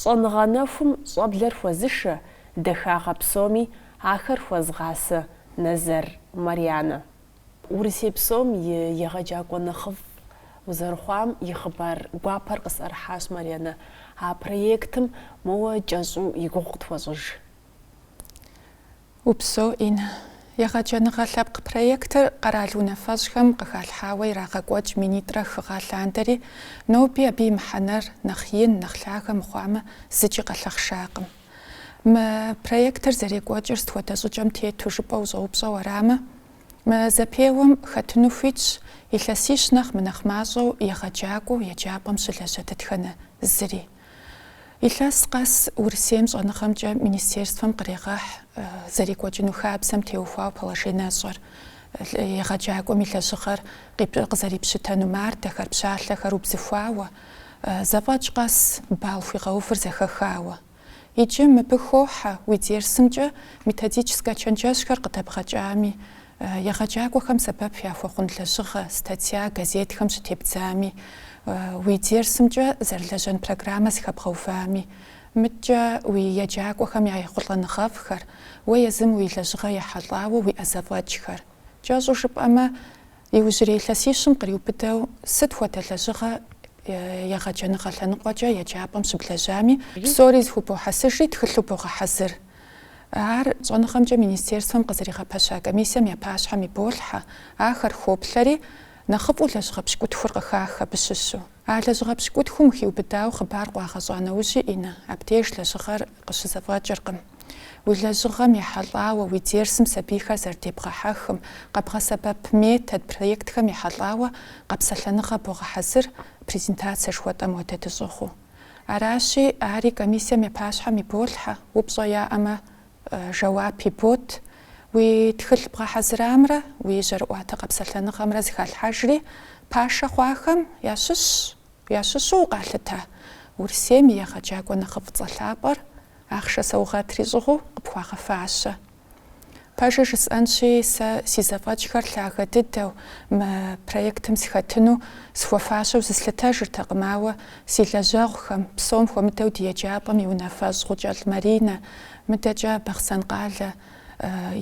Щӏэныгъэ нэхум щӏэблэр хуэзышэ, дахагъэ псоми ахэр хуэзгъасэ Назэр Марианэ. Урысей псом и егъэджакӏуэ нэхъыфӏ узэрыхъуам и хъыбар гуапэр къысӏэрыхьащ Марианэ. А проектым моуэ кӏэщӏу и гугъу къытхуэщӏыж. Упсэу, Иннэ. Егъэджэныгъэ лъэпкъ проектыр къэрал унафэщӏхэм къыхалъхьауэ ирагъэкӏуэкӏ минитӏрэ хы гъэ лъандэри, ноби абы и мыхьэнэр нэхъ ин, нэхъ лъагэ мыхъуамэ, зыкӏи къэлъэхъшакъым. Мы проектыр зэрекӏуэкӏыр сыт хуэдэ щӏыкӏэм тету жыпӏэ ущӏэупщӏэу арамэ, мы зэпеуэм хэтыну хуитщ илъэсищ нэхърэ мынэхъ мащӏэу егъэджакӏуэу еджапӏэм щылэжьэ дэтхэнэ зыри. Илъэс къэс Урысейм щӏэныгъэмкӏэ министерствэм кърегъэхь зэрекӏуэкӏыну хабзэм теухуауэ положенэщӏэр, егъэджакӏуэм и лэжьыгъэр къызэрипщытэну мардэхэр, пщалъэхэр убзыхуауэ, зэфӏэкӏ къэс балл хуигъэувыр зэхэхауэ. Иджы мыбы хохьэ уи дерсымкӏэ методическэ чэнджэщхэр къыдэбгъэкӏами, Егъэджакӏуэхэм сэбэп яхуэхъун лэжьыгъэ, статья, газетхэм щытебдзами, уи дерсымкӏэ зэрылэжьэн программэ зыхэбгъэувами, мыдэкӏэ уи еджакӏуэхэм я ехъулӏэныгъэфӏхэр, уэ езым уи лэжьыгъэм ехьэлӏауэ уиӏэ зэфӏэкӏхэр. Кӏэщӏу жыпӏэмэ, иужьрей илъэсищым къриубыдэу сыт хуэдэ лэжьыгъэ егъэджэныгъэ лъэныкъуэкӏэ еджапӏэм щыблэжьами, псори зэхубохьэсыжри тхылъу богъэхьэзыр. Ар щӏэныгъэмкӏэ министерствэм къызэригъэпэща комиссием я пащхьэм иболъхьэ, ахэр хоплъэри, нэхъыфӏу лэжьыгъэ пщыкӏутхур къыхах абы щыщу. А лэжьыгъэ пщыкӏутхум хиубыдауэ хъыбар къуагъэщӏа нэужьи, Иннэ, абдеж лэжьыгъэр къыщызэфӏэкӏыркъым. Уи лэжьыгъэм ехьэлӏауэ, уи дерсым сабийхэр зэрыдебгъэхьэхым, къэбгъэсэбэп метод, проектхэм ехьэлӏауэ къэпсэлъэныгъэ богъэхьэзыр, презентацэ жыхуэтӏэм хуэдэ дыщӏыгъуу. Аращи, ари комиссием и пащхьэм иболъхьэ, упщӏэ яӏэмэ, жэуап ябот. Уи тхылъ бгъэхьэзырамрэ уи жьэрыӏуатэ къэпсэлъэныгъэмрэ зыхалъхьэжри, пашэ хъуахэм ящыщщ, ящыщу укъалъытэ Урысейм и егъэджакӏуэ нэхъыфӏ цӏэ лъапӏэр, ахъшэ саугъэтри щӏыгъуу, къыпхуагъэфащэ. Пэжыр жысӏэнщи, сэ си зэфӏэкӏхэр лъагэ дыдэу мы проектым схэтыну схуэфащэу зыслъытэжыртэкъым, ауэ си лэжьэгъухэм, псом хуэмыдэу ди еджапӏэм и унафэщӏ Гъукӏэлӏ Маринэ, мыдэкӏэ Бахъсэн къалэ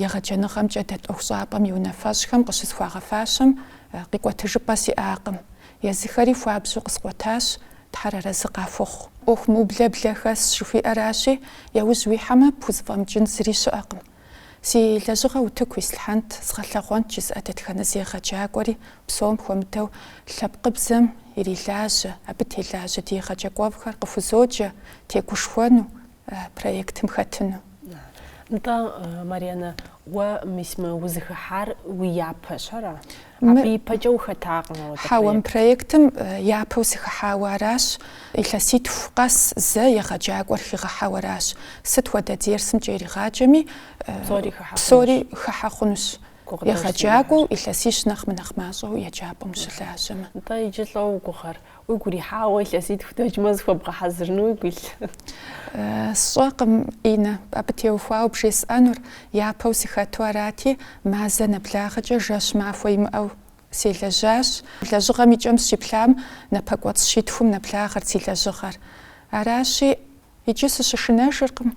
егъэджэныгъэмкӏэ дэт ӏуэхущӏапӏэм и унафэщӏхэм къыщысхуагъэфащэм къикӏуэтыжыпӏэ сиӏакъым. Езыхэри хуабжьу къыскъуэтащ, Тхьэр арэзы къахуэхъу. ӏуэху мыублэ блэ хэсщ жыхуиӏэращи, яужь уихьэмэ, пхузэфӏэмыкӏын зыри щыӏэкъым. Си лэжьыгъэ утыку ислъхьэнт, сгъэлъэгъуэнт жысӏэ дэтхэнэ зы егъэджакӏуэри, псом хуэмыдэу, лъэпкъыбзэм ирилажьэ, абы телажьэ ди егъэджакӏуэфӏхэр къыхузоджэ, тегушхуэну, проектым хэтыну. Нтӏэ, Марьянэ, уэ мис мы узыхыхьар уи япэщ, ара? Абы ипэкӏэ ухэтакъым ауэ дэ. Хьэуэ, мы проектым япэу сыхыхьауэ аращ, илъэситху къэс зэ егъэджакӏуэр хигъэхьэу аращ. Сыт хуэдэ дерсымкӏэ иригъаджэми, псори хыхьэ хъунущ, егъэджакӏуэу, илъэсищ нэхъ мынэхъ мащӏэу еджапӏэм щылажьэмэ. Нтӏэ, иджы лӏо уи гугъэр, Уигу ирихьауэ илъэситху дэкӏмэ зыхуэбгъэхьэзырыну уигу илъ? Сщӏэкъым, Инэ, абы теухуауэ бжесӏэнур, япэу сыхэту арати, мазэ нэблагъэкӏэ жэщ махуэ имыӏэу селэжьащ. Лэжьыгъэм и кӏэм сыщеплъам, напэкӏуэцӏ щитхум нэблагъэрт си лэжьыгъэр. Аращи, иджы сыщышынэжыркъым.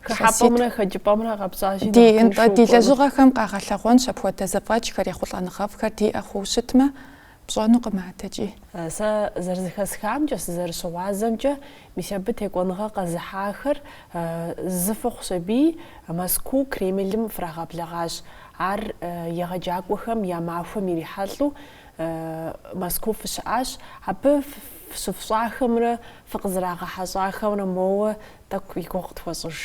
Хыхьэпӏэмрэ хэкӏыпӏэмрэ къэпщӏащи нэхъ тыншу укӏуэну. Ди лэжьыгъэхэм къагъэлъэгъуэнщ апхуэдэ зэфӏэкӏхэр ехъулӏэныгъэфӏхэр диӏэ хъууэ щытмэ, пщӏэнукъым адэкӏи. Сэ зэрызэхэсхамкӏэ, сызэрыщыгъуазэмкӏэ, мис абы текӏуэныгъэ къэзыхьахэр зыфӏыхъу сабий Мэзкуу Кремлым фрагъэблэгъащ. Ар егъэджакӏуэхэм я махуэм ирихьэлӏэу Мэзкуу фыщыӏащ. Абы фыщыфщӏахэмрэ фыкъызэрагъэхьэщӏахэмрэ моуэ тӏэкӏу и гугъу къытхуэщӏыж.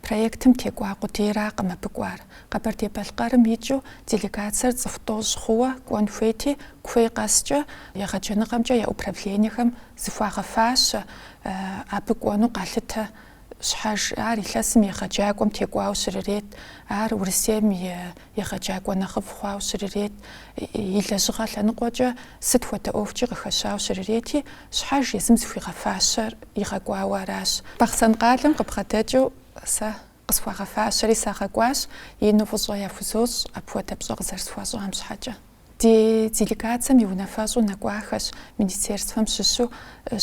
Проектым текӏуа къудейракъым абы кӏуар. Къэбэрдей-Балъкъэрым икӏыу делегацэр цӏыху тӏощӏ хъууэ кӏуэн хуейти, куей къэскӏэ егъэджэныгъэмкӏэ я управлениехэм зыхуагъэфащэ абы кӏуэну къалъытэ щхьэж. Ар илъэсым и егъэджакӏуэм текӏуауэ щрырет, ар Урысейм и Егъэджакӏуэ нэхъыфӏ хъуауэ щрырет, и лэжьыгъэ лъэныкъуэкӏэ сыт хуэдэ ӏуэхукӏи къыхэщауэ щрырети, щхьэж езым зыхуигъэфащэр игъэкӏуауэ аращ. Бахъсэн къалэм къыбгъэдэкӏыу сэ къысхуагъэфащэри сагъэкӏуащ, ину фӏыщӏэ яхузощӏ апхуэдэ пщӏэ къызэрысхуащӏам щхьэкӏэ. Ди делегацэм и унафэщӏу нэкӏуахэщ министерствэм щыщу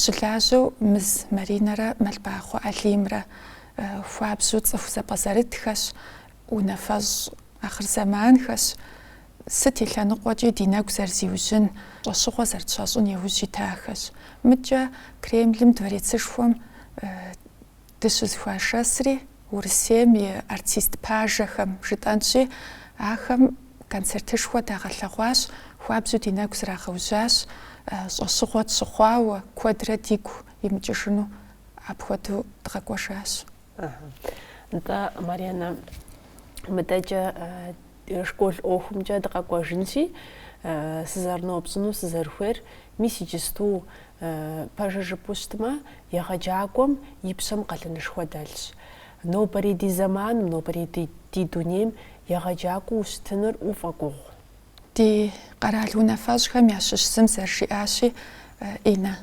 щылажьэу Мыз Маринэрэ Мэлбахъуэ Алимрэ. Хуабжьу цӏыху зэпӏэзэрытхэщ. Унафэщӏ ахъырзэманхэщ, сыт и лъэныкъуэкӏи ди нэгу зэрызиужьын, щӏэщыгъуэ зэрытщащӏын яужь итахэщ. Мыкӏэ Кремлым дворецышхуэм дыщызэхуашэсри, Урысейм и артист пажэхэм жытӏэнщи, ахэм концертышхуэ дагъэлъэгъуащ, хуабжьу ди нэгу зрагъэужьащ, щӏэщыгъуэ тщыхъуауэ, куэдрэ дигу имыкӏыжыну апхуэдэу дгъэкӏуэжащ. Нтӏэ, Марьянэ, мыдэкӏэ школ ӏуэхумкӏэ дыкъэкӏуэжынщи, сызэрынопщӏыну сызэрыхуейр, мис иджысту пэжыр жыпӏэу щытмэ, егъэджакӏуэм и пщэм къалэнышхуэ дэлъщ. Нобэрей ди зэманым, нобэрей ди дунейм егъэджакӏуэу ущытыныр уфӏэгугъу. Ди къэрал унафэщӏхэм ящыщ зым зэрыжиӏащи, Инэ.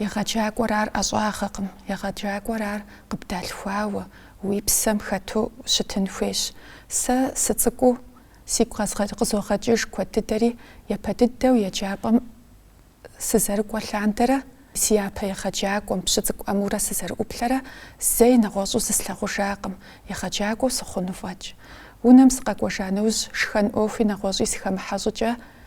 Егъэджакӏуэр ар ӏэщӏагъэкъым, егъэджакӏуэр ар къыбдалъхуауэ, уи псэм хэту щытын хуейщ. Сэ сыцӏыкӏуу сигу къызогъэкӏыж куэд дыдэри, япэ дыдэу еджапӏэм сызэрыкӏуэ лъандэрэ си япэ егъэджакӏуэм, Пщыцӏыкӏу Ӏэмурэ сызэрыӏуплъэрэ зэи нэгъуэщӏу зыслъагъужакъым, егъэджакӏуэу сыхъуну фӏэкӏ. Унэм сыкъэкӏуэжа нэужь, шхэн ӏуэхуи нэгъуэщӏи сыхэмыхьэ щӏыкӏэ,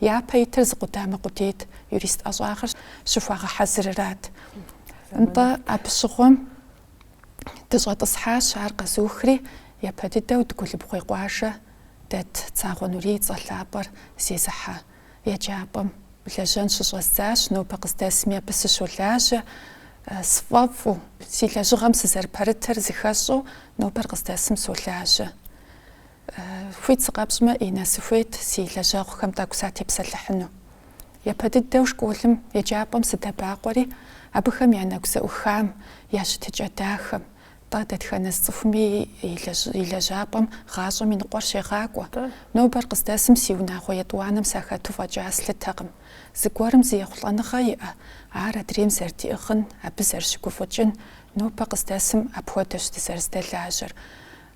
Япэ итыр зы къудамэ къудейт, юрист ӏэщӏагъэр щыхуагъэхьэзырырат. Нтӏэ, абы щыгъуэм дыщӏэтӏысхьащ, ар къэзухри, япэ дыдэу Дыгулыбгъуей къуажэ дэт Цагъуэ Нурий и цӏэ лъапӏэр зезыхьэ еджапӏэм лэжьэн щыщӏэздзащ, нобэ къыздэсми абы сыщолажьэ, сфӏэфӏу, си лэжьыгъэм сызэрыпэрытыр зыхэсщӏэу нобэр къыздэсым солажьэ. Хуит сыкъэпщӏмэ, Инэ, сыхуейт си лэжьэгъухэм тӏэкӏу сатепсэлъыхьыну. Япэ дыдэу школым, еджапӏэм сыдэбакъуэри, абыхэм я нэгу зэӏухам, я щытыкӏэ дахэм, тӏэ, дэтхэнэ зы цӏыхуми и лэжьапӏэм гъащӏэм и ныкъуэр щегъакӏуэ. Нобэр къыздэсым си унагъуэ етӏуанэм сахэту фӏэкӏа слъытэкъым. Зыгуэрым зы ехъулӏэныгъэ иӏэ, ар адрейм зэрыдиӏыгъын, абы зэрыщыгуфӏыкӏын, нобэ къыздэсым апхуэдэщ дызэрызэдэлажьэр.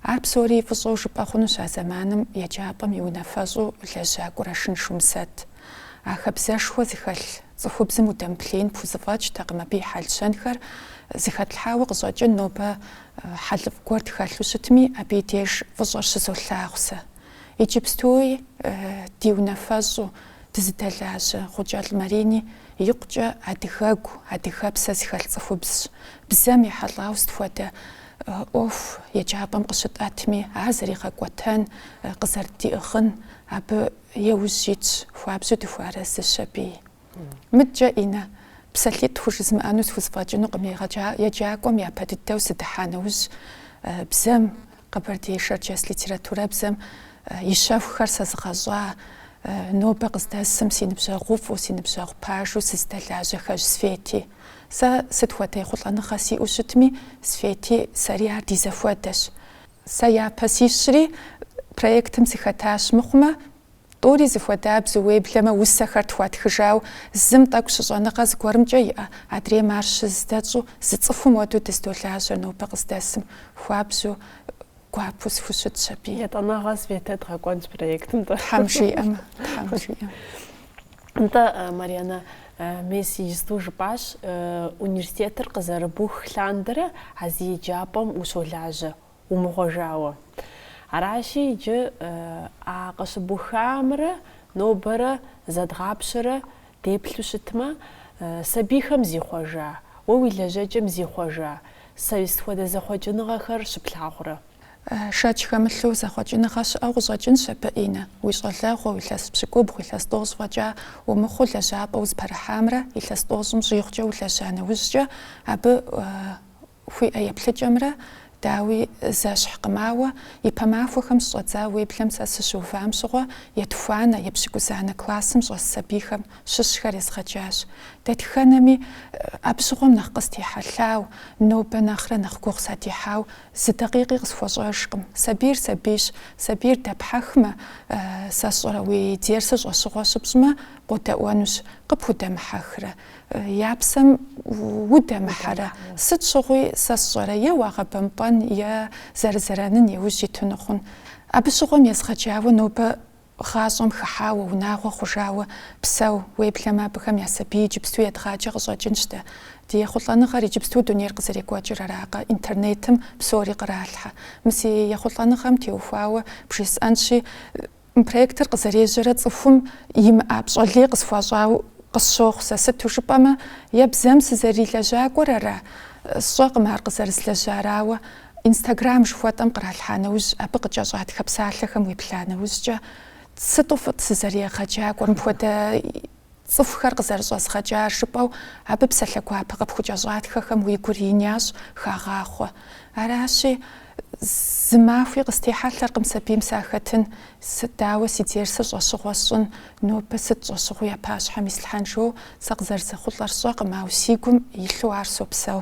Ар псори фӏыщӏэу жыпӏэ хъунущ а зэманым еджапӏэм и унафэщӏу лэжьа Кӏурашын Шумсэт. А хабзэшхуэ зыхэлъ цӏыхубзым удэмыплъеин пхузэфӏэкӏтэкъым, абы и хьэл-щэнхэр зыхэтлъхьауэ къыщӏэкӏын нобэ хьэлыфӏ гуэр тхэлъу щытми, абы и деж фӏыщӏэр щызолъагъу сэ. Иджыпстуи ди унафэщӏу дызыдэлажьэ Гъукӏэлӏ Марини икъукӏэ адыгэгу, адыгэпсэ зыхэлъ цӏыхубзщ. Бзэм ехьэлӏауэ сыт хуэдэ ӏуэху еджапӏэм къыщытӏэтми, ар зэригъэкӏуэтэн, къызэрыддиӏыгъын абы еужь итщ, хуабжьу дыхуэарэзыщ абыи. Мыдэкӏэ, Инэ, псалъитӏ хужызмыӏэну схузэфӏэкӏынукъым, егъэджакӏуэм япэ дыдэу сыдыхьа нэужь, бзэм, къэбэрдей-шэрджэс литературэбзэм и щэхухэр сэзыгъэщӏа, нобэ къыздэсым си ныбжьэгъуфӏу, си ныбжьэгъу пажэу сызыдэлажьэ Хэжь Свети. Сэ сыт хуэдэ ехъулӏэныгъэ сиӏэу щытми, Свети сэри ар ди зэхуэдэщ. Сэ япэ сищри, проектым сыхэтащ, мыхъумэ, тӏури зыхуэдабзэу, уеблэмэ, усэхэр тхуатхыжау, зым тӏэкӏу щыщӏэныгъэ зыгуэрымкӏэ иӏэ, адрейм ар щыздэщӏу, зы цӏыхум хуэдэу дыздолажьэ нобэ къыздэсым, хуабжьу, гуапэу схущытщ абы. Етӏанэгъэ Светэ дгъэкӏуэнщ проектым, тӏэ. Тхьэм жиӏэмэ, тхьэм жиӏэмэ. Нтӏэ, Марьянэ, мес иджысту жыпӏащ, университетыр къызэрыбух лъандэрэ а зы еджапӏэм ущолажьэ, умыгъуэжауэ. Аращи, иджы а къыщыбухамрэ нобэрэ зэдгъапщэрэ Деплъу щытмэ, сабийхэм зихъуэжа, уэ уи лэжьэкӏэм зихъуэжа сыт хуэдэ зэхъуэкӏыныгъэхэр щыплъагъурэ? Шэч хэмылъу зэхъуэкӏыныгъэ щыӏэу къыщӏэкӏынщ абы, Инэ. Уи щӏалэгъуэ, илъэс пщыкӏубгъу, илъэс тӏощӏ фӏэкӏа умыхъуу лэжьапӏэу зыпэрыхьамрэ, илъэс тӏощӏым щӏигъукӏэ улэжьа нэужькӏэ абы, Хуиӏэ еплъыкӏэмрэ, дауи, зэщхькъым, ауэ ипэ махуэхэм щӏэдза уеблэмэ сэ сыщыувам щыгъуэ етхуанэ, епщыкӏузанэ классым щӏэс сабийхэм щыщхэр езгъэджащ. Дэтхэнэми абы щыгъуэм нэхъ къыстехьэлъау, нобэ нэхърэ нэхъ гугъу сыдехьау зы дакъикъи къысхуэщӏэжкъым. Сабийр сабийщ, сабийр дэпхьэхмэ, сэ сщӏэрэ уи дерсыр щӏэщыгъуэ щыпщӏмэ, къодэӏуэнущ, къыпхудэмыхьэхрэ, Я псэм удэмыхьэрэ? Сыт щыгъуи сэ сщӏэрэ е уагъэбэмпӏэн, е зэрызэрэнын и ужь итыну хъун. Абы щыгъуэм езгъэджауэ нобэ гъащӏэм хыхьауэ, унагъуэ хъужауэ псэу. Уеблэмэ абыхэм я сабий иджыпсту едгъаджэ къыщӏэкӏынщ дэ. Ди ехъулӏэныгъэр, иджыпсту дунейр къызэрекӏуэкӏыр аракъэ, интернетым псори къралъхьэ. Мы си ехъулӏэныгъэм теухуауэ бжесӏэнщи, Мы проектыр къызэрежьэрэ цӏыхум имыӏа пщӏэ лей къысхуащӏауэ къысщохъу сэ, сыту жыпӏэмэ, е бзэм сызэрилэжьакӏуэр ара, сщӏэкъым ар къызэрызлэжьар, ауэ Инстаграм жыхуэтӏэм къралъхьа нэужь, абы къыкӏэщӏатхэ псалъэхэм уеплъа нэужькӏэ, сыту фӏыт сызэрыегъэджакӏуэр, мыпхуэдэ Цӏыхухэр къызэрыщӏэзгъэкӏар жыпӏэу абы псалъэ гуапэ къыпхукӏэщӏатхэхэм уи гур ин ящӏ, хагъахъуэ. Аращи, зы махуи къыстехьэлъэркъым сабийм сахэтын, сыт дауэ си дерсыр щӏэщыгъуэ сщӏын, нобэ сыт щӏэщыгъуи я пащхьэм ислъхьэн жысӏэу, сэ къызэрызэхъулӏэр сщӏэкъым, ауэ си гум илъу ар сопсэу.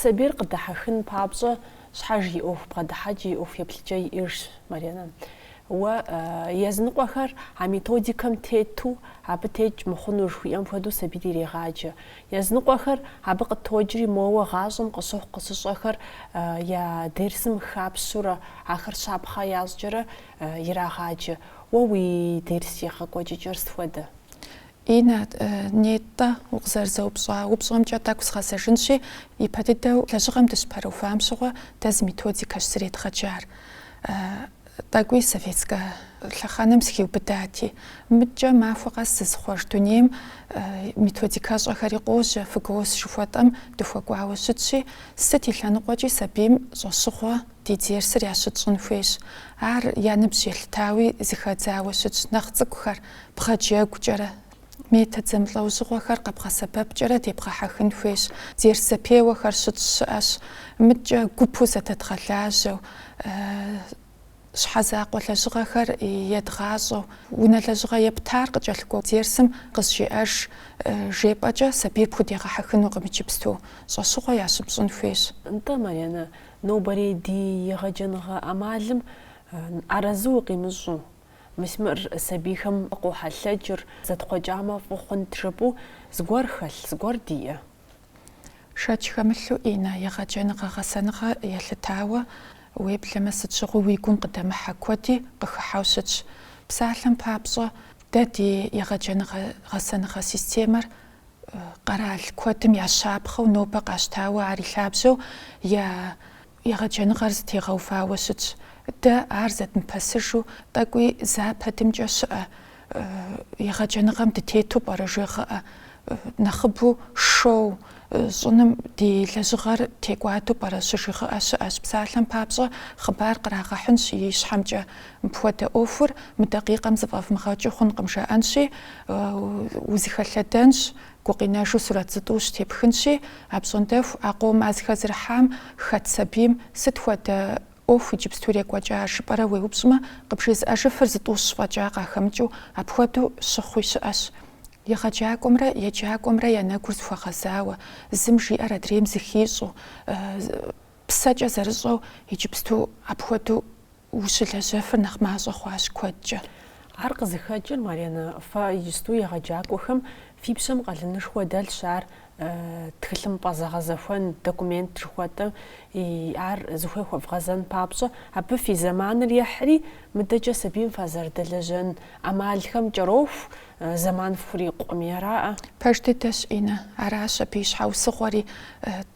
Сабийр къыдыхьэхын папщӏэ щхьэж и ӏуэху бгъэдыхьэкӏэ, и ӏуэху еплъыкӏэ иӏыжщ Марьянэ. Уэ языныкъуэхэр а методикэм тету абы текӏ мыхъуну жыхуиӏэм хуэдэу сабийр ирегъаджэ. Языныкъуэхэр абы къытокӏри, моуэ гъащӏэм къыщыхъу къыщыщӏхэр я дерсым хапщурэ, ахэр щапхъэ ящӏкӏэрэ ирагъаджэ. Уэ уи дерс егъэкӏуэкӏыкӏэр сыт хуэдэ? Инэ, нетӏэ, укъызэрызэупщӏа упщӏэмкӏэ тӏэкӏу згъэзэжынщи, ипэ дыдэу лэжьыгъэм дыщыпэрыувам щыгъуэ дэ зы методикэщ зэредгъэджар. Тӏэкӏуи советскэ лъэхъэнэм сыхиубыдати, мыдкӏэ махуэ къэс зызыхъуэж дунейм методикэщӏэхэри къожьэ, ФГОС жыхуэтӏэм дыхуэкӏуауэ щытщи, сыт и лъэныкъуэкӏи сабийм щӏэщыгъуэ ди дерсыр ящытщӏын хуейщ. Ар я ныбжь елъытауи зэхэдзауэ щытщ, нэхъ цӏыкӏухэр, Бгъэджэгукӏэрэ, метод зэмылӏэужьыгъуэхэр къэбгъэсэбэпкӏэрэ дебгъэхьэхын хуейщ. Дерс зэпеуэхэр щытщ щыӏэщ. Мыдкӏэ гупу зэдэдгъэлажьэу, щхьэ закъуэ лэжьыгъэхэр едгъащӏэу, унэ лэжьыгъэ ептар къыкӏэлъыкӏуэ дерсым къызжеӏэж жепӏэкӏэ сабийр пхудегъэхьэхынукъым иджыпсту. Щӏэщыгъуэ ящыпщӏын хуейщ. Нтӏэ, Марьянэ, нобэрей ди егъэджэныгъэ ӏэмалым арэзы укъимыщӏу, Мысмыр сабийхэм къохьэлъэкӏыр, зэтхъуэкӏамэ фӏы хъунт жыпӏэу, зыгуэр хэлъ, зыгуэр диӏэ. Шэч хэмылъу Инэ егъэджэныгъэ-гъэсэныгъэ елъытауэ, уеблэмэ сыт щыгъуи уи гум къыдэмыхьэ куэди къыхыхьэу щытщ. Псалъэм папщӏэ, дэ ди егъэджэныгъэ-гъэсэныгъэ системэр къэрал куэдым я щапхъэу нобэ къащтауэ, ар и лъабжьэу я Егъэджэныгъэр зэтегъэувауэ щытщ. Дэ ар зэдмыпэсыжу тӏэкӏуи Западымкӏэ щыӏэ егъэджэныгъэм дытету пӏэрэ жегъыӏэ. Нэхъыбэу шоу щӏыным ди лэжьыгъэр текӏуадэу пӏэрэ щыжигъыӏэ щыӏэщ. Псалъэм папщӏэ, хъыбар кърагъэхьынщ ищхьэмкӏэ. Мыпхуэдэ ӏуэхур мы дакъикъэм зэфӏэвмыгъэкӏыу хъункъым жаӏэнщи, узэхэлъэдэнщ, Гукъинэжу сурэт зытӏущ тепхынщи, а пщӏондэху а къом зэхэзэрыхьам хэт сабийм сыт хуэдэ ӏуэху иджыпсту ирекӏуэкӏа жыпӏэрэ уеупщӏмэ, къыпжезыӏэжыфыр зытӏущ фӏэкӏа къахэмыкӏыу апхуэдэу щыхъуи щыӏэщ. Егъэджакӏуэмрэ еджакӏуэмрэ я нэгур зэхуэгъэзауэ, зым жиӏэр адрейм зыхищӏэу, псэкӏэ зэрыщӏэу иджыпсту апхуэдэу Ущылэжьэфыр нэхъ мащӏэ хъуащ куэдкӏэ. Ар къызыхэкӏыр, Марьянэ, фэ иджысту егъэджакӏуэхэм фи пщэм къалэнышхуэ дэлъщ ар тхылъымпӏэ зэгъэзэхуэн документ жыхуэтӏэ, ар зыхуей хуэвгъэзэн папщӏэ, абы фи зэманыр ехьри, мыдэкӏэ сабийм фазэрыдэлэжьэн ӏэмалхэм кӏэроху, зэман фхурикъукъым, аракъэ. Пэж дыдэщ, Инэ, аращ абы и щхьэусыгъуэри.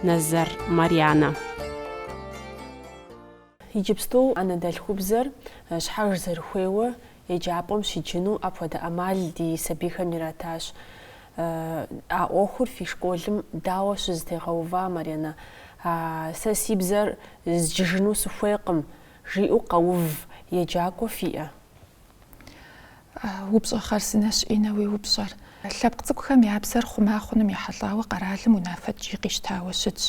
Назар, Марьянэ. Иджыпсту анэдэлъхубзэр щхьэж зэрыхуейуэ еджапӏэм щиджыну апхуэдэ ӏэмал ди сабийхэм иратащ. А ӏуэхур фи школым дауэ щызэтегъэува, Марьянэ? А, сэ си бзэр зджыжыну сыхуейкъым, жиӏэу къэув еджакӏуэ фиӏэ? Упщӏэ хъарзынэщ, Иннэ, уи упщӏэр. Лъэпкъ цӏыкӏухэм я бзэр хъума хъуным ехьэлӏауэ къэралым унафэ ткӏий къищтауэ щытщ.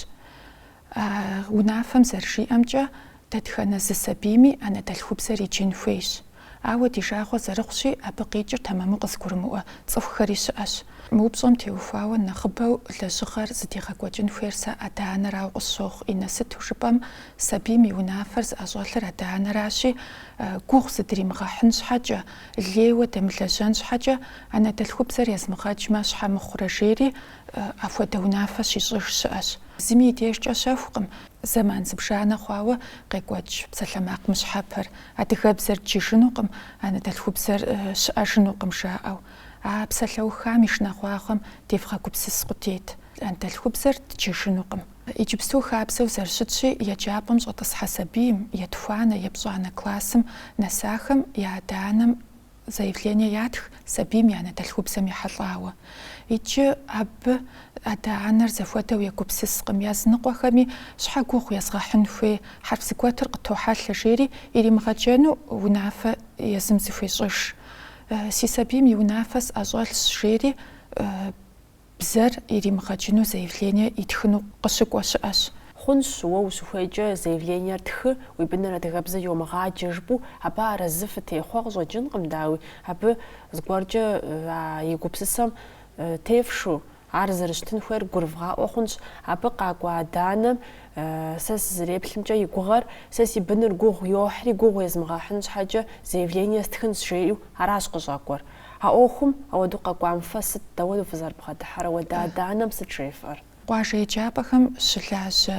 Унафэм зэрыжиӏэмкӏэ, дэтхэнэ зы сабийми анэдэлъхубзэр иджын хуейщ. Ауэ ди жагъуэ зэрыхъущи, абы къикӏыр тэмэму къызыгурымыӏуэ цӏыхухэри щыӏэщ. Мы упщӏэм теухуауэ нэхъыбэу лэжьыгъэр зыдигъэкӏуэкӏын хуейр сэ адэ-анэрауэ къысщохъу, Иннэ, сыту жыпӏэм, сабийм и унафэр зыӏэщӏэлъыр адэ-анэращи, Гугъу зыдримыгъэхьын щхьэкӏэ, лейуэ дэмылэжьэн щхьэкӏэ анэдэлъхубзэр езмыгъэджмэ щхьэ мыхъурэ жери, апхуэдэ унафэ щищӏыж щыӏэщ. Зыми и дежкӏэ щэхукъым. Зэман зыбжанэ хъуауэ къекӏуэкӏ псалъэмакъ мыщхьэпэр, адыгэбзэр дджыжынукъым, анэдэлъхубзэр щыӏэжынукъым жаӏэу. А псалъэухам и шынагъуагъэм девгъэгупсыс къудейт, анэдэлъхубзэр дджыжынукъым. Иджыпсту хабзэу зэрыщытщи, еджапӏэм щӏэтӏысхьэ сабийм, етхуанэ, епщӏанэ классым нэсахэм я адэ-анэм заявление ятх сабийм и анэдэлъхубзэм ехьэлӏауэ. Иджы абы адэ-анэр зэхуэдэу егупсыскъым, языныкъуэхэми щхьэ гугъу езгъэхьын хуей хьэрф зэгуэтыр къытохьэлъэ, жери иримыгъэджэну унафэ езым зыхуещӏыж. Си сабийм и унафэ сӏэщӏэлъщ, жери Бзэр иримыгъэджыну заявление итхыну къыщыкӏуэ щыӏэщ. Хъунщ, уэ ущыхуейкӏэ заявлениер тхы, уи быныр адыгэбзэ йомыгъаджэ жыпӏэу, абы арэзы фытехъуэ къыщӏэкӏынкъым, дауи, абы зыгуэркӏэ а и гупсысэм тефшу, ар зэрыщытын хуейр гурывгъаӏуэ хъунщ. Абы къакӏуэ адэ-анэм сэ сызэреплъымкӏэ и гугъэр, сэ си быныр гугъу йохьри, гугъу езмыгъэхьын щхьэкӏэ заявление стхынщ жеӏэу, аращ къыщӏэкӏуэр. А ӏуэхум ауэдэу къэкӏуам фэ сыт, дауэ фызэрыбгъэдыхьэр, ауэдэ адэ-анэм сыт жефӏэр? Къуажэ еджапӏэхэм щылажьэ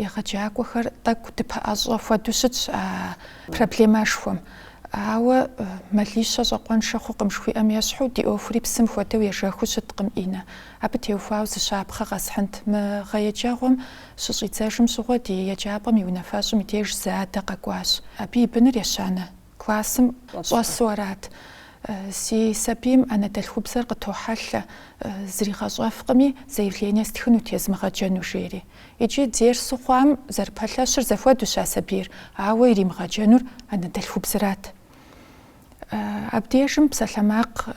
егъэджакӏуэхэр тӏэкӏу дыпэӏэщӏэ хуэдэу щытщ а проблемэшхуэм. Ауэ мэлищэ щӏакъуэншэ хъукъым жыхуиӏэм ещхьу, ди ӏуэхури псым хуэдэу ежэхыу щыткъым, Иннэ. Абы теухуауэ зы щапхъэ къэсхьынт. Мы гъэ еджэгъуэм щыщӏидзэжым щыгъуэ ди еджапӏэм и унафэщӏым и деж зы адэ къэкӏуащ. Абы и быныр ещанэ. Классым щӏэсу арат. Си сабийм анэдэлъхубзэр къытохьэлъэ, зригъэщӏэфкъыми, заявление стхынут езмыгъэджэну жери. Икӏи дерсу хъуам зэрыпэлъэщыр зэхуэдущ а сабийр, ауэ иримыгъэджэнур анэдэлъхубзэрат. Абдежым псалъэмакъ.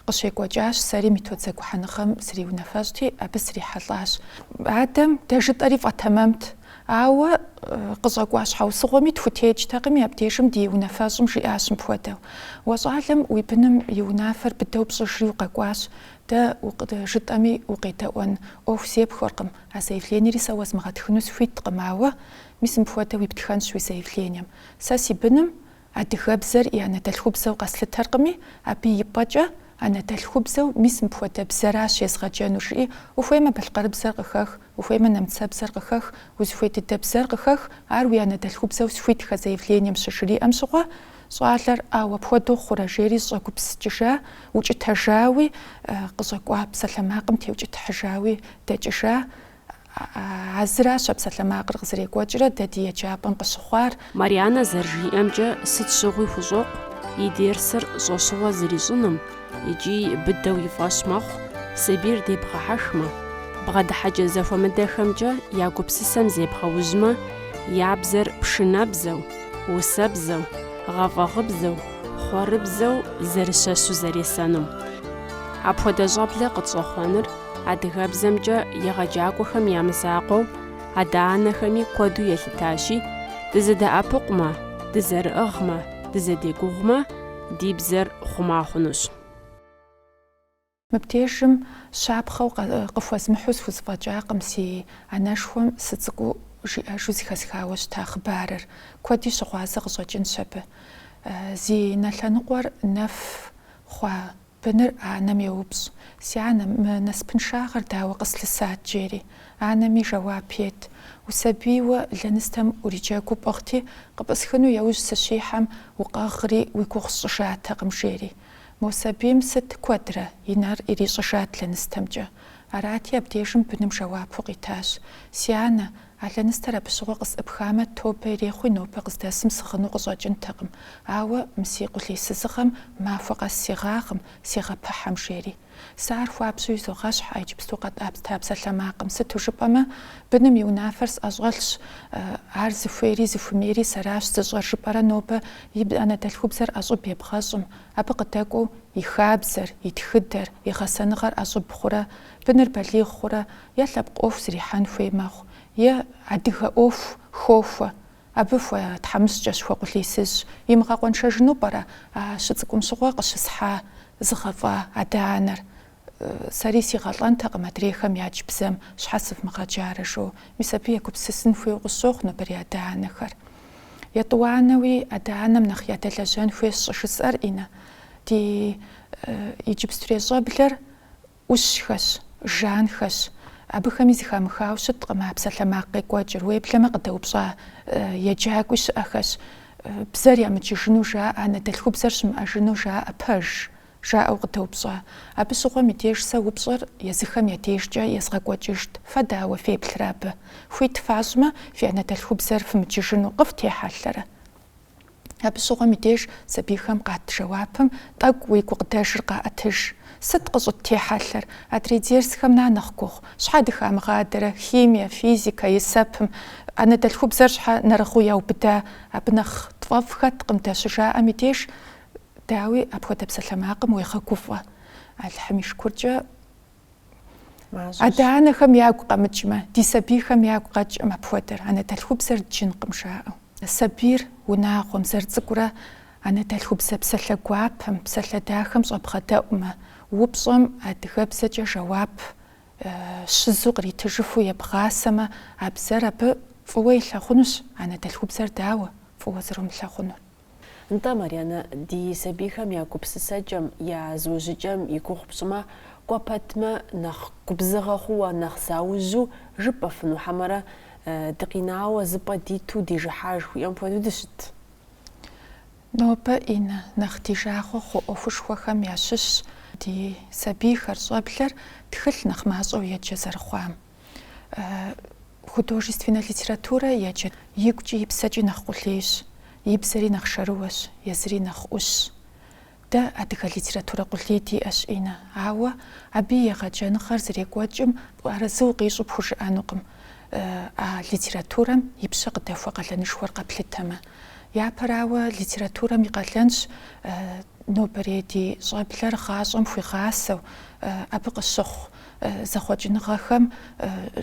Къыщекӏуэкӏащ, сэри методзэгухьэныгъэм сриунафэщӏти, абы срихьэлӏащ. Адэм дэ жытӏэри фӏэтэмэмт. Ауэ къыщӏэкӏуа щхьэусыгъуэми тхутекӏтэкъыми, абдежым ди унафэщӏым жиӏащ мыпхуэдэу, Уэ щӏалэм уи быным и унафэр быдэу пщӏыжри укъэкӏуащ, дэ жытӏэми укъедэӏуэн ӏуэху зепхуэркъым, а заявлениери сэ уэзмыгъэтхыну схуиткъым, ауэ мис мыпхуэдэу иптхэнщ уи заявлением. Сэ си быным Адыгэбзэр и анэдэлъхубзэу къэслъытэркъыми, абы и пӏэкӏэ, анэдэлъхубзэу мис мыпхуэдэ бзэращ езгъэджэнур, жыӏи, ухуеймэ балъкъэрыбзэр къыхэх, ухуеймэ нэмыцэбзэр къыхэх, узыхуей дыдэ бзэр къыхэх, ар уи анэдэлъхубзэу схуитхэ заявлением щыжриӏэм щыгъуэ, щӏалэр ӏэу апхуэдэу хъурэ жери щӏэгупсыкӏыжа, укӏытэжауи, къыщӏэкӏуа псалъэмакъым теукӏытыхьыжауи дэкӏыжа, А зыращ а псалъэмакъыр къызэрекӏуэкӏрэ дэ ди еджапӏэм къыщыхъуар. Марианэ зэрыжиӏэмкӏэ, сыт щыгъуи хущӏокъу и дерсыр щӏэщыгъуэ зэрищӏыным икӏи быдэу и фӏэщ мэхъу сабийр дебгъэхьэхмэ, бгъэдыхьэкӏэ зэхуэмыдэхэмкӏэ я гупсысэм зебгъэужьмэ, я бзэр пшынэбзэу, усэбзэу, гъэфӏэгъыбзэу, хъуэрыбзэу зэрыщэщу зэресэнум. Апхуэдэ щӏэблэ къытщӏэхъуэныр Адыгэбзэмкӏэ егъэджакӏуэхэм я мызакъуэу адэ-анэхэми куэду елъытащи, дызэдэӏэпыкъумэ, дызэрыӏыгъмэ, дызэдегугъумэ, ди бзэр хъума хъунущ. Мыбдежым щапхъэу къыхуэзмыхьу схузэфӏэкӏакъым си анэшхуэм сыцӏыкӏуу жиӏэжу зыхэсхауэ щыта хъыбарыр. Куэди щыгъуазэ къыщӏэкӏынщ абы. Зи нэ лъэныкъуэр нэф хъуа Быныр анэм йоупщӏ, Си анэ, мы насыпыншагъэр дауэ къыслъысат? жери. Анэми жэуап ет, Усабийуэ лэныстэм уриджэгуу пӏыгъти, къыпӏысхыну яужь сыщихьэм, укъэгъри, уи гугъу сщӏыжатэкъым, жери. Мо сабийм сыт куэдрэ, и нэр ирищӏыжат лэныстэмкӏэ. Арати, абдежым быным жэуапу къитащ, Си анэ, А лэныстэр абы щыгъуэ къысӏыпхамэ, тобэ ирехъуи нобэ къыздэсым сыгъыну къыщӏэкӏынтэкъым, ауэ мы си къулейсызыгъэм махуэ къэс сегъагъым, сегъэпыхьэм, жери. Сэ ар хуабжьу изогъэщхь а иджыпсту къэтӏэта псалъэмакъым, сыту жыпӏэмэ, быным и унафэр сӏэщӏэлъщ, ар зыхуейри зыхуимейри сэращ зыщӏэр, жыпӏэрэ нобэ и анэдэлъхубзэр ӏэщӏыб ебгъэщӏым, абы къыдэкӏуэу и хабзэр, и тхыдэр, и гъэсэныгъэр ӏэщӏыб хъурэ, быныр балигъ хъурэ, е лъэпкъ ӏуэху зэрихьэн хуей мэхъу, е адыгэ ӏуэху хохуэ, абы хуэтхьэмыщкӏэщ, хуэкъулейсызщ. Имыгъэкъуэншэжыну пӏэрэ а щыцӏыкӏум щыгъуэ къыщысхьа, зыгъэфӏа адэ-анэр? Сэри сигъэлӏэнтэкъым адрейхэм ядж бзэм щхьэ сывмыгъэджарэ жиӏэу. Мис абы егупсысын хуейуэ къысщохъу нобэрей адэ-анэхэр. Етӏуанэуи, адэ-анэм нэхъ ядэлэжьэн хуейщ щӏыжысӏэр, Инна. Ди иджыпстурей щӏэблэр ӏущхэщ, жанхэщ, абыхэми зыхамыхауэ щыткъым а псалъэмакъ къекӏуэкӏыр, уеблэмэ къыдэупщӏа еджакӏуи щыӏэхэщ, бзэр ямыджыжыну жаӏэ, анэдэлъхубзэр щымыӏэжыну жаӏэ, пэж? жаӏэу къыдэупщӏа. Абы щыгъуэм и деж сэ упщӏэр езыхэм я дежкӏэ езгъэкӏуэкӏыжт, фэ дауэ феплърэ абы? Хуит фащӏмэ, фи анэдэлъхубзэр фымыджыжыну къыфтехьэлъэрэ? Абы щыгъуэм и деж сабийхэм къат жэуапым тӏэкӏу уи гукъыдэжыр къаӏэтыж. Сыт къыщӏыттехьэлъэр? Адрей дерсхэм на нэхъ гугъу? Щхьэ дыхамыгъадэрэ? Химие, физикэ, есэпым? Анэдэлъхубзэр щхьэ нэрыгъыу яубыда? Абы нэхъ тфӏэфӏ хэткъым дэ щыжаӏэм и деж. Дауи, апхуэдэ псалъэмакъым уегъэгуфӏэ. Алыхьым и шыкуркӏэ. Адэ-анэхэм ягу къэмыкӏмэ, ди сабийхэм ягу къэкӏым апхуэдэр, анэдэлъхубзэр дджынкъым жаӏэу. Сабийр унагъуэм, зэрыцӏыкӏурэ анэдэлъхубзэ псалъэ гуапэм, псалъэ дахэм щӏэбгъэдэӏумэ, упщӏэм адыгэбзэкӏэ жэуап щызу къритыжыфу ебгъасэмэ, а бзэр абы фӏыуэ илъагъунущ, анэдэлъхубзэр дауэ фӏыуэ зэрумылъагъунур. Нтӏэ, Марьянэ, ди сабийхэм я гупсысэкӏэм, я зыужьыкӏэм и гугъу пщӏымэ, кӏуэ пэтмэ, нэхъ губзыгъэ хъууэ, нэхъ заужьу жыпӏэфыну хьэмэрэ, дыкъинауэ зы пӏэ диту дижыхьа жыхуиӏэм хуэдэу дыщыт. Нобэ, Иннэ, нэхъ ди жагъуэ хъу ӏуэхушхуэхэм ящыщщ ди сабийхэр щӏэблэр тхылъ нэхъ мащӏэу еджэ зэрыхъуам. художественнэ литературэ еджэ. Игукӏи и псэкӏи нэхъ къулейщ, и бзэри нэхъ шэрыуэщ, езыри нэхъ ӏущщ. Дэ адыгэ литературэ къулей диӏэщ, Иннэ, ауэ абы и егъэджэныгъэр зэрекӏуэкӏым арэзы укъищӏу пхужыӏэнукъым, а литературэм и пщэ къыдэхуэ къалэнышхуэр къэплъытэмэ. Япэрауэ, литературэм и къалэнщ нобэрей ди щӏэблэр гъащӏэм хуигъасэу, абы къыщыхъу зэхъуэкӏыныгъэхэм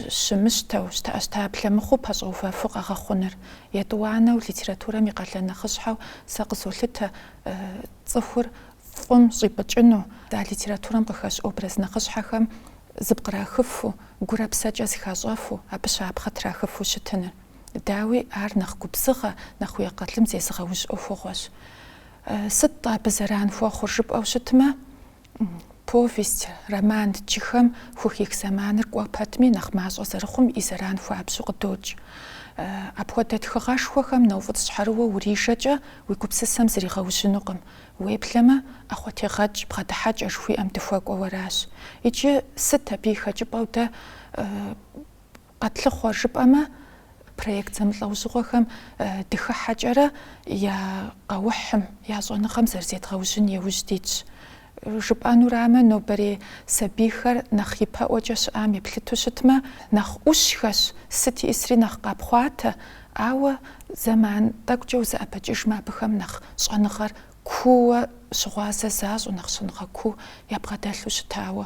щымыщтэу, щтэӏэщтаблэ мыхъуу пэщӏэувэфу къэгъэхъуныр. Етӏуанэу литературэм и къалэн нэхъыщхьэу сэ къызолъытэ цӏыхур фӏым щӏипӏыкӏыну, а литературэм къыхэщ образ нэхъыщхьэхэм зыпкърахыфу, гурэ псэкӏэ зыхащӏэфу, абы щапхъэ трахыфу щытыныр. Дауи, ар нэхъ губзыгъэ, нэхъ уи акъылым зезыгъэужь ӏуэхугъуэщ. Сыт-тӏэ абы зэран хуэхъур жыпӏэу щытмэ, Повесть, роман дджыхэм хухих зэманыр кӏуэ пэтми, нэхъ мащӏэ зэрыхъум и зэран хуабжьу къыдокӏ. Апхуэдэ тхыгъэшхуэхэм нэуфӏыцӏщхьэрыуэу урижэкӏэ, уи гупсысэм зригъэужьынукъым. Уеплъэмэ, ӏэхъуэтегъэкӏ бгъэдыхьэкӏэ жыхуиӏэм дыхуэкӏуэу аращ. Иджы сыт абы и хэкӏыпӏэу дэ Къэтлъыхъуэр жыпӏэмэ, проект зэмылӏэужьыгъуэхэм дыхыхьэкӏэрэ я къэухьым, я щӏэныгъэм зэрызедгъэужьын еужь дитщ. Жыпӏэнурамэ, нобэрей сабийхэр нэхъ ипэӏуэкӏэ щыӏам еплъыту щытмэ, нэхъ ӏущхэщ, сыт ищӏысри нэхъ къапхъуатэ, ауэ зэман тӏэкӏукӏэ узэӏэбэкӏыжмэ, абыхэм нэхъ щӏэныгъэр куууэ щыгъуазэ защӏу, нэхъ щӏэныгъэ куу ябгъэдэлъу щытауэ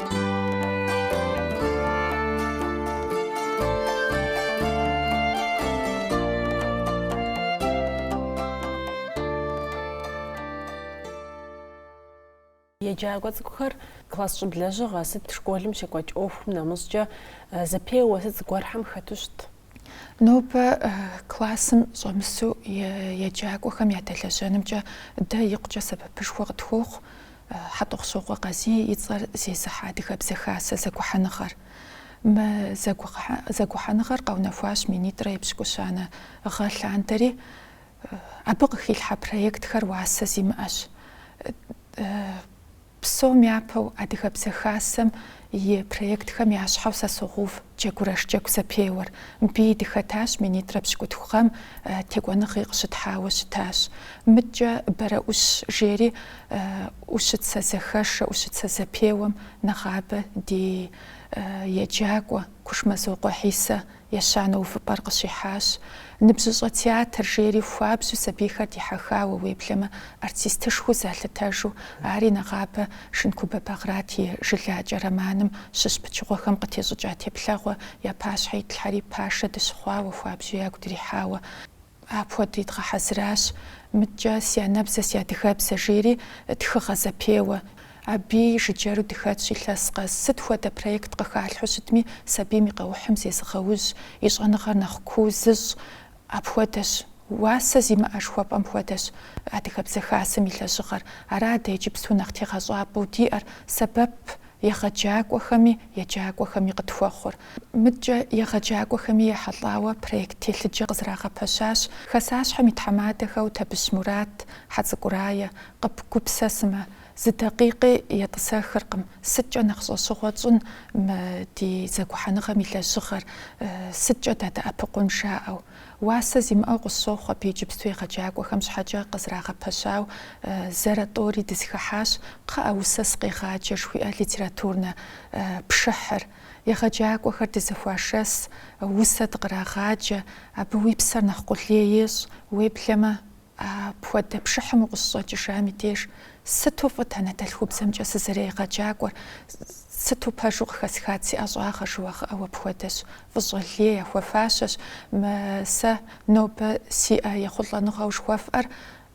Еджакӏуэ цӏыкӏухэр класс щӏыб лэжьыгъэ сыт школым щекӏуэкӏ ӏуэхум нэмыщӏкӏэ зэпеуэ сыт зыгуэрхэм хэту щыт? Нобэ классым щӏэмысу еджакӏуэхэм ядэлэжьэнымкӏэ дэ икъукӏэ сэбэпышхуэ къытхуохъу Хьэтӏохъущокъуэ Къазий и цӏэр зезыхьэ Адыгэбзэ Хасэ зэгухьэныгъэр. Мы зэгухьэныгъэр къэунэхуащ минитӏрэ епщыкӏущанэ гъэ лъандэри. Абы къыхилъхьэ проектхэр уасэ зимыӏэщ. Псом япэу Адыгэбзэ Хасэм и проектхэм я щхьэу сэ согъув Джэгурэш Джэгу зэпеуэр. Мыбыи дыхэтащ, минитӏрэ пщыкӏутху гъэм текӏуэныгъи къыщытхьауэ щытащ. Мыдкӏэ Бэрэӏущ жери ӏущыцэ зэхэшэ, ӏущыцэ зэпеуэм нэгъабэ ди еджакӏуэ Кушмэзокъуэ Хьисэ Ещанэ увыпӏэр къыщихьащ. Ныбжьыщӏэ театр жери хуабжьу сабийхэр дихьэхауэ, уеблэмэ артистышхуэу залъытэжу, ари нэгъабэ Шынкубэ Багърат и Жылакӏэ романым щыщ пычыгъуэхэм къытещӏыкӏа теплъэгъуэ я пащхьэ итлъхьэри пашэ дыщыхъуауэ хуабжьу ягу дрихьауэ, Апхуэдэри дгъэхьэзыращ. Мыдкӏэ си анэбзэ, си адыгэбзэ жери тхыгъэ зэпеуэ. Абыи жыджэру дыхэтщ илъэс къэс. Сыт хуэдэ проект къыхалъхьэу щытми, сабийм и къэухьым зезыгъэужь, и щӏэныгъэр нэхъ куу зыщӏ. Апхуэдэщ. Уасэ зимыӏэ жыхуэпӏэм хуэдэщ Адыгэбзэ Хасэм и лэжьыгъэр. Ара дэ иджыпсту нэхъ тегъэщӏапӏэу диӏэр, сэбэп Егъэджакӏуэхэми еджакӏуэхэми къытхуэхъур. Мыдкӏэ егъэджакӏуэхэми ехьэлӏауэ проект телъыджэ къызэрагъэпэщащ Хасащхьэм и тхьэмадэхэу Табыщ Мурат, Хьэцӏыкӏу Рае. Къэбгупсысмэ, зы дакъикъи етӏысэхыркъым, сыткӏэ нэхъ щӏэщыгъуэ тщӏын мы ди зэгухьэныгъэм и лэжьыгъэр, сыткӏэ дадэӏэпыкъун жаӏэу. Уасэ зимыӏэу къысщохъу абы иджыпсту егъэджакӏуэхэм щхьэкӏэ къызэрагъэпэщауэ зэрэ тӏэури дызэхыхьащ, кхъыӏэ, усэ сыкъегъаджэ жыхуиӏэ литературнэ пшыхьыр. Егъэджакӏуэхэр дызэхуашэс, усэ дыкърагъаджэ, абы уи псэр нэхъ къулей ещӏ, уеблэмэ. Апхуэдэ пшыхьым укъыщыщӏэкӏыжам и деж сыту фӏыт анэдэлъхубзэмкӏэ сызэрегъэджакӏуэр, сыту пэжу къыхэсхат си ӏэщӏагъэ жыуигъэӏэу апхуэдэщ, фӏыщӏэ лей яхуэфащэщ, сэ нобэ сиӏэ ехъулӏэныгъэу жыхуэфӏэр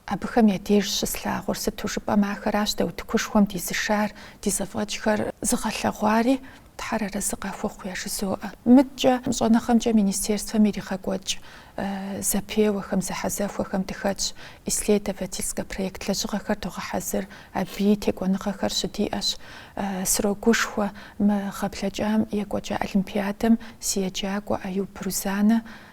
абыхэм я деж щыслъагъур, сыту жыпӏэмэ ахэращ дэ утыкушхуэм дизышар, ди зэфӏэкӏхэр зыгъэлъэгъуари. Тхьэр арэзы къахуэхъу яжызоӏэ. Мыдкӏэ щӏэныгъэмкӏэ министерствэм иригъэкӏуэкӏ зэпеуэхэм, зэхьэзэхуэхэм дыхэтщ, исследовательскэ проект лэжьыгъэхэр догъэхьэзыр, абыи текӏуэныгъэхэр щыдиӏэщ. Срогушхуэ мы гъэ блэкӏам екӏуэкӏа олимпиадэм си еджакӏуэ Аюб Рузанэ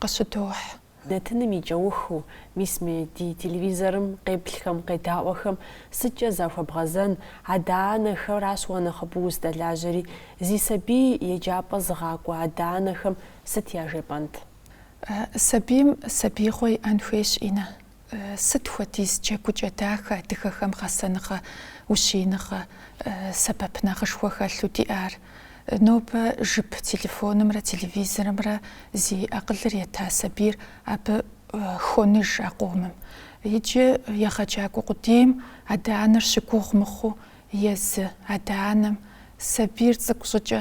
къыщыдохь. Нэтыным и кӏэухыу, мис мы ди телевизорым къеплъхэм, къедаӏуэхэм сыткӏэ захуэбгъэзэн, адэ-анэхэращ уэ нэхъыбэу уздэлажьэри, зи сабий еджапӏэ зыгъакӏуэ адэ-анэхэм сыт яжепӏэнт? Сабийм сабиигъуэ иӏэн хуейщ, Иннэ. Сыт хуэдиз джэгукӏэ дахэ адыгэхэм гъэсэныгъэ, ущииныгъэ, сэбэп нэхъышхуэ хэлъу диӏар! Нобэ жып телефонымрэ телевизорымрэ зи акъылыр ета сабийр абы хоныж а къомым. Иджы егъэджакӏуэ къудейм адэ-анэр щыгугъ мыхъуу, езы адэ-анэм сабийр цӏыкӏу щӏыкӏэ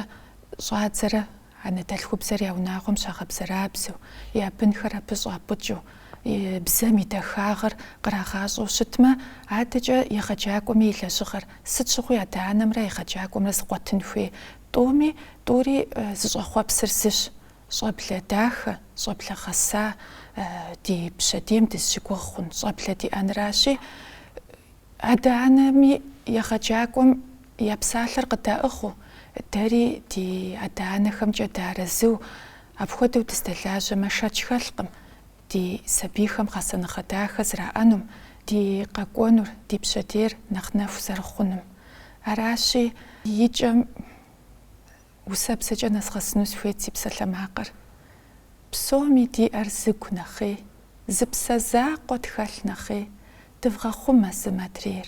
щӏадзэрэ анэдэлъхубзэр я унагъуэм щагъэбзэрабзэу, я бынхэр абы щӏапӏыкӏыу, и бзэм и дахагъыр кърагъащӏэу щытмэ, адэкӏэ егъэджакӏуэми и лэжьыгъэр сыт щыгъуи адэ-анэмрэ егъэджакӏуэмрэ зэкъуэтын хуей тӏуми тӏури зыщӏэхъуэпсыр зыщ, щӏэблэ дахэ, щӏэблэ гъэса ди пщэдейм дызыщыгугъ хъун щӏэблэ диӏэнращи, адэ-анэми егъэджакӏуэм Я псалъэр къыдаӏыгъыу, дэри ди адэ-анэхэмкӏэ дыарэзыу, апхуэдэу дыздэлажьэмэ, шэч хэлъкъым ди сабийхэм гъэсэныгъэ дахэ зэраӏэнум, ди къэкӏуэнур, ди пщэдейр нэхъ нэху зэрыхъунум. Аращи, и кӏэм усэбзэкӏэ нэзгъэсыну сыхуейт си псалъэмакъыр. Псоми диӏэр зы гу нэхъей, зы псэ закъуэ тхэлъ нэхъей, дывгъэхъумэ зым адрейр.